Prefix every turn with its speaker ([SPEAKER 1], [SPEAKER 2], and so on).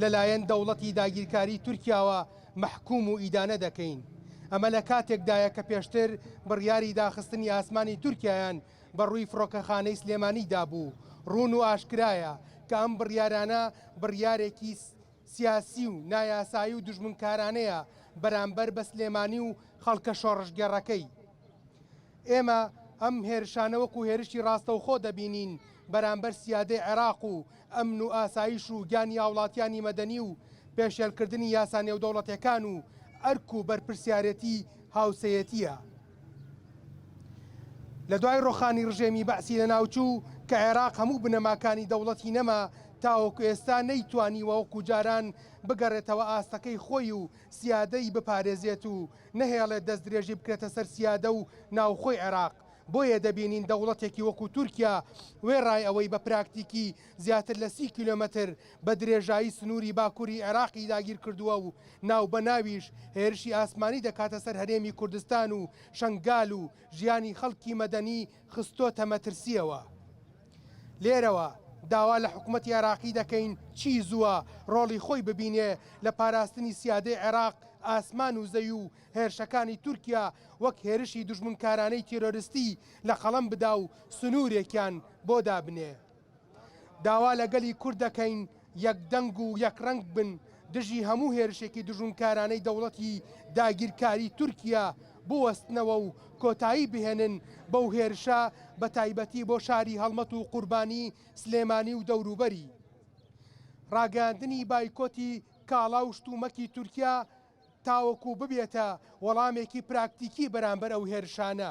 [SPEAKER 1] لەلایەن دەوڵەتی داگیرکاری تورکیاوە مەحکووم و ئیدانە دەکەین. ئەمە لە کاتێکدایە کە پێشتر بڕیاری داخستنی ئاسمانی تورکیایان بە ڕووی فڕۆکەخانەی سلێمانی دابوو، ڕوون و ئاشکرایە کە ئەم بڕیارانە بڕیارێکی سیاسی و نایاسایی و دوژمنکارانەیە بەرامبەر بە سلێمانی و خەڵکە شۆڕشگێڕەکەی. ئێمە ئەم هێرشانە وەکو هێرشی ڕاستەوخۆ دەبینین بەرامبەر سیادەی عێراق و ئەمن و ئاسایش و گیانی هاوڵاتیانی مەدەنی و پێشێلکردنی یاسا نێودەوڵەتێکان و ئەرک و بەرپرسیارێتی هاوسێیەتیە لە دوای ڕوخانی ڕژێمی بەعسی لەناوچوو کە عێراق هەموو بنەماکانی دەوڵەتی نەما تاوەکو ئێستا نەیتوانیوە وەکو جاران بگەڕێتەوە ئاستەکەی خۆی و سیادە، ی بپارێزێت و نەهێڵێت دەستدرێژی بکرێتە سەر سیادە و ناوخۆی عێراق، بۆیە دەبینین دەوڵەتێکی وەکو تورکیا وێڕای ئەوەی بە پراکتیکی زیاتر لە سی کیلۆمەتر بە درێژایی سنووری باکوری عێراقی داگیرکردووە و ناوبەناویش هێرشی ئاسمانی دەکاتە سەر هەرێمی کوردستان و شەنگال و ژیانی خەڵکی مەدەنی خستۆتە مەترسییەوە. لێرەوە داوا لە حکومەتی عێراقی دەکەین چی زووە ڕۆڵی خۆی ببینێ لە پاراستنی سیادەی عێراق، ئاسمان و زەوی و هێرشەکانی تورکیا وەک هێرشی دوژمنکارانەی تیرۆرستی لە قەڵەم بدا و سنوورێکیان بۆ دابنێ. داوا لە گەلی کورد دەکەین یەک دەنگ و یەک ڕەنگ بن دژی هەموو هێرشێکی دژونکارانەی دەوڵەتی داگیرکاری تورکیا بوەستنەوە و کۆتایی بهێنن بەو هێرشە بە تایبەتی بۆ شاری هەڵمەت و قوربانی سلێمانی و دەوروبەری. ڕاگەیاندنی بایکۆتی کاڵا و شتومەکی تورکیا تاوەکو ببێتە وەڵامێکی پراکتیکی بەرامبەر ئەو هێرشانە،